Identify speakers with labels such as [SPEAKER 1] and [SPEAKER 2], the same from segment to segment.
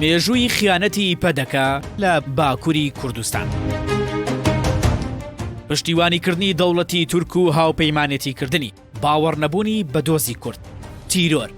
[SPEAKER 1] مێژووی خیانەتی پەدەکە لە باکوری کوردستان. پشتیوانی کردنی دەوڵەتی تورک و هاوپەیمانێتی کردنی باوەڕنەبوونی بە دۆزی کورد تیرۆر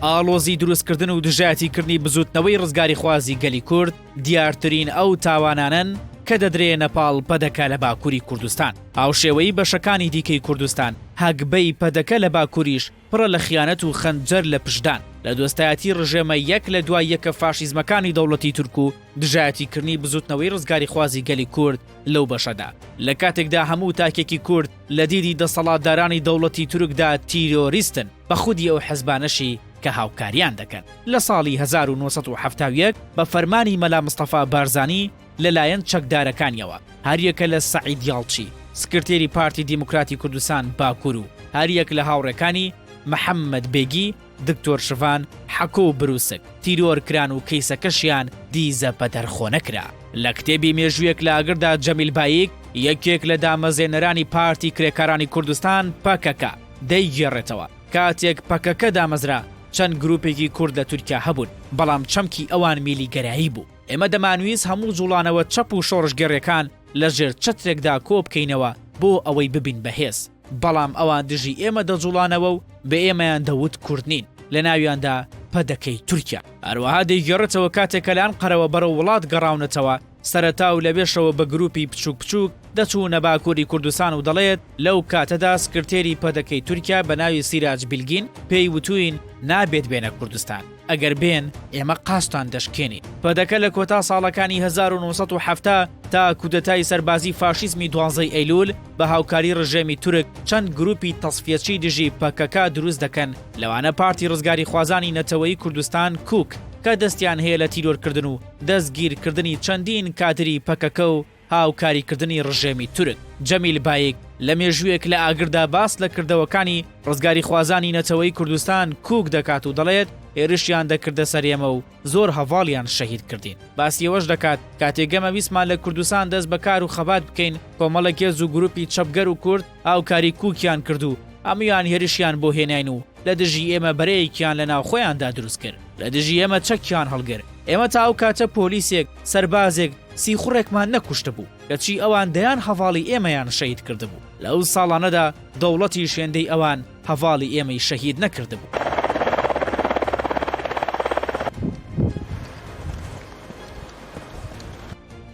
[SPEAKER 1] ئاڵۆزی دروستکردن و دژایەتی کردنی بزوتنەوەی ڕزگاری خوازی گەلی کورد دیارترین ئەو تاوانانن کە دەدرێ نەپاڵ پەدەکە لە باکووری کوردستان هاوشێوەی بەشەکانی دیکەی کوردستان هەگبەی پەدەکە لە باکووریش پڕە لە خیانەت و خەنجەر لە پشتدان لە دۆستایەتی ڕژێمە یەک لە دوای یەکە فاشیزمەکانی دەوڵەتی تورک و دژایەتی کردنی بزوتنەوەی ڕزگاریخوازی گەلی کورد لەو بەشەدا لە کاتێکدا هەموو تاکێکی کورد لە دیدی دەسەڵاتدارانی دەوڵەتی تورکدا تیرۆریستن بە خودی ئەو حزبانەشی کە هاوکاریان دەکەن. لە ساڵی هەزار و نۆ سەد و حەفتا و یەک بە فەرمانی مەلا مستەفا بارزانی، لەلایەن چەکدارەکانیەوە، هەریەکە لە سەعید یاڵچی، سکرتێری پارتی دیموکراتی کوردستان باکور و هەریەک لە هاوڕێکانی، محەمەد بێگی، دکتۆر شڤان، حەکۆ و بروسک، تیرۆر کران و کەیسەکەشیان دیزە پەتەرخۆ نەکرا. لە کتێبی مێژوویەک لە ئاگردا جەمیل بایک، یەکێک لە دامەزێنەرانی پارتی کرێکارانی کوردستان، پەکەکە، دەیگێڕێتەوە، کاتێک پەکەکە دامەزرا، چەند گروپێکی کورد لە تورکیا هەبوون، بەڵام چەمکی ئەوان میلیگەرایی بوو. ئێمە دەمانویست هەموو جوڵانەوە چەپ و شۆڕشگێڕێکان لە ژێر چەترێکدا کۆ بکەینەوە بۆ ئەوەی ببین بە هێز، بەڵام ئەوان دژی ئێمە دەجوڵانەوە و بە ئێمەیان دەوت کورد نین، لە ناویاندا پەدەکەی تورکیا. هەروەها دەیگێڕێتەوە کاتێک کە لە ئەنقەرەوە بەرەو وڵات گەڕاونەتەوە، سەرەتا و لەوێشەوە بە گرووپی بچووک بچووک دەچوونە باکووری کوردستان و دەڵێت لەو کاتەدا سکرتێری پەدەکەی تورکیا بە ناوی سیراج بیلگین پێی وتووین نابێت بێنە کوردستان. ئەگەر بێن ئێمە قازتان دەشکێنین. پەدەکە لە کۆتا ساڵەکانی هەزار و نۆ سەد و حەفتا تا کودەتای سەربازی فاشیزمی دوانزەی ئەیلول بە هاوکاری ڕژێمی تورک چەند گروپی تەسفیەچی دژی پەکەکە دروست دەکەن لەوانە پارتی ڕزگاریخوازانی نەتەوەیی کوردستان کوک کە دەستیان هەیە لە تیرۆرکردن و دەستگیرکردنی چەندین کادری پەکەکە و هاوکاریکردنی ڕژێمی تورک. جەمیل بایک لە مێژوویەک لە ئاگردا باس لە کردەوەکانی ڕزگاریخوازانی نەتەوەی کوردستان کوک دەکات و دەڵێت، هێرشیان دەکردە سەر ئێمە و زۆر هەڤاڵیان شەهید کردین. باسی ئەوەش دەکات، کاتێک ئێمە ویستمان لە کوردستان دەست بە کار و خەبات بکەین، کۆمەڵێک هێز و گروپی چەپگەر و کورد هاوکاری کوکیان کرد و هەموویان هێرشیان بۆ هێناین و لە دژی ئێمە بەرەیەکیان لە ناوخۆیاندا دروست کرد. لە دژی ئێمە چەکیان هەڵگرت، ئێمە تا ئەو کاتە پۆلیسێک، سەربازێک، سیخوڕێکمان نەکوشتبوو، کەچی ئەوان دەیان هەڤاڵی ئێمەیان شەهید کردبوو، لە ئەو ساڵانەدا دەوڵەتیش هێندەی ئەوان هەڤاڵی ئێمەی شەهید نەکردبوو.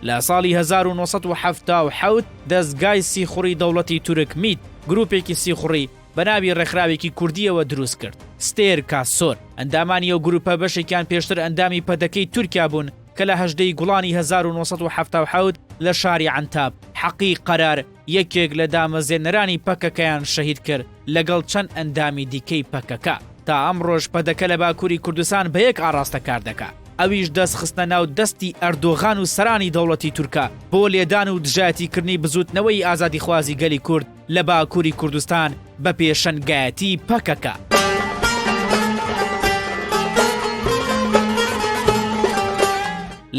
[SPEAKER 1] لە ساڵی هەزار و نۆ سەد و حەفتا و حەوت دەزگای سیخوڕی دەوڵەتی تورک میت، گروپێکی سیخوڕی بە ناوی ڕێکخراوێکی کوردییەوە دروست کرد. ستێر کاسۆر، ئەندامانی ئەو گرووپە بەشێکیان پێشتر ئەندامی پەدەکەی تورکیا بوون کە لە هەژدە ی گوڵانی هەزار و نۆ سەد و حەفتا و حەوت لە شاری عەنتاب، حەقی قەرار، یەکێک لە دامەزێنەرانی پەکەکەیان شەهید کرد لەگەڵ چەند ئەندامی دیکەی پەکەکە. تا ئەمڕۆش پەدەکە لە باکووری کوردستان بە یەک ئاڕاستە کار دەکا، ئەویش دەست خستنە ناو دەستی ئەردۆغان و سەرانی دەوڵەتی تورکە بۆ لێدان و دژایەتیکردنی بزووتنەوەی ئازادیخوازی گەلی کورد، لە باکووری کوردستان بە پێشەنگایەتی پەکەکە.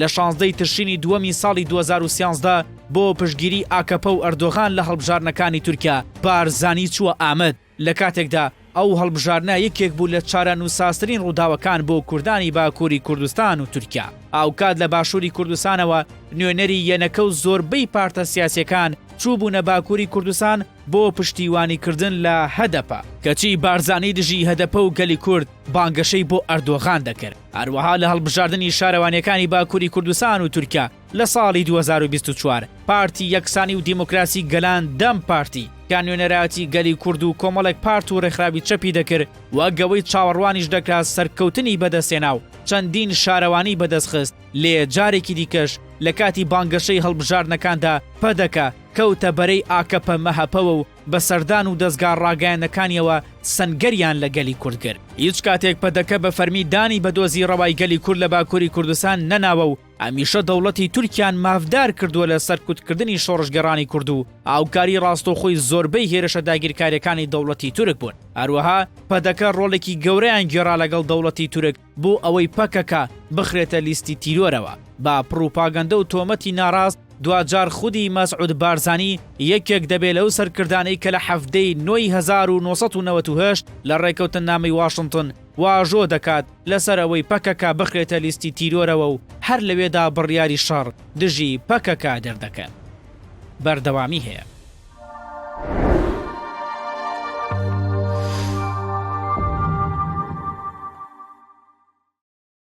[SPEAKER 1] لە شانزدەی تشرینی دووەمی ساڵی 2013 بۆ پشگیری ئاکەپە و ئەردۆغان لە هەڵبژاردنەکانی تورکیا بارزانی چووە ئامەد لە کاتێکدا ئەو هەڵبژاردنە یەکێک بوو لە چارەنووسسازترین ڕووداوەکان بۆ کوردانی باکووری کوردستان و تورکیا. هاوکات لە باشووری کوردستانەوە نوێنەری یەنەکە و زۆربەی پارتە سیاسییەکان چووبوونە باکووری کوردستان بۆ پشتیوانیکردن لە هەدەپە، کەچی بارزانی دژی هەدەپە و گەلی کورد بانگەشەی بۆ ئەردۆغان دەکرد، هەروەها لە هەڵبژاردنی شارەوانییەکانی باکووری کوردستان و تورکیا، لە ساڵی دوو هەزار و بیست و چوار پارتی یەکسانی و دیموکراسی گەلان، دەم پارتی، کە نوێنەرایەتی گەلی کورد و کۆمەڵێک پارت و ڕێکخراوی چەپی دەکرد و گەوەی چاوەڕوانیش دەکرا سەرکەوتنی بەدەستهێنا و چەندین شارەوانی بەدەستخست، لێ جارێکی دیکەش لە کاتی بانگەشەی هەڵبژاردنەکاندا پەدەکە کەوتە بەرەی ئاکەپە-مەهەپەوە و بە سەردان و دەزگا ڕاگەیاندنەکانییەوە سەنگەریان لە گەلی کورد گرت. هیچ کاتێک پەدەکە بە فەرمی دانی بە دۆزی ڕەوای گەلی کورد لە باکووری کوردستان نەناوە و هەمیشە دەوڵەتی تورکیان مافدار کردووە لە سەرکوتکردنی شۆڕشگێڕانی کورد و هاوکاری ڕاستەوخۆی زۆربەی هێرشە داگیرکاریەکانی دەوڵەتی تورک بوون هەروەها پەدەکە ڕۆڵێکی گەورەیان گێڕا لەگەڵ دەوڵەتی تورک بۆ ئەوەی پەکەکە بخرێتە لیستی تیرۆرەوە با پڕوپاگەندە و تۆمەتی ناڕاست دواجار خودی مەسعود بارزانی یەکێک دەبێت لەو سەرکردانەی کە لە حەفتەی نۆی 1990 لە ڕێکەوتننامەی واشنتن واژۆ دەکات لەسەر ئەوەی پەکەکە بخرێتە لیستی تیرۆرەوە و هەر لەوێدا بڕیاری شەڕ دژی پەکەکە دەردەکەن بەردەوامی هەیە.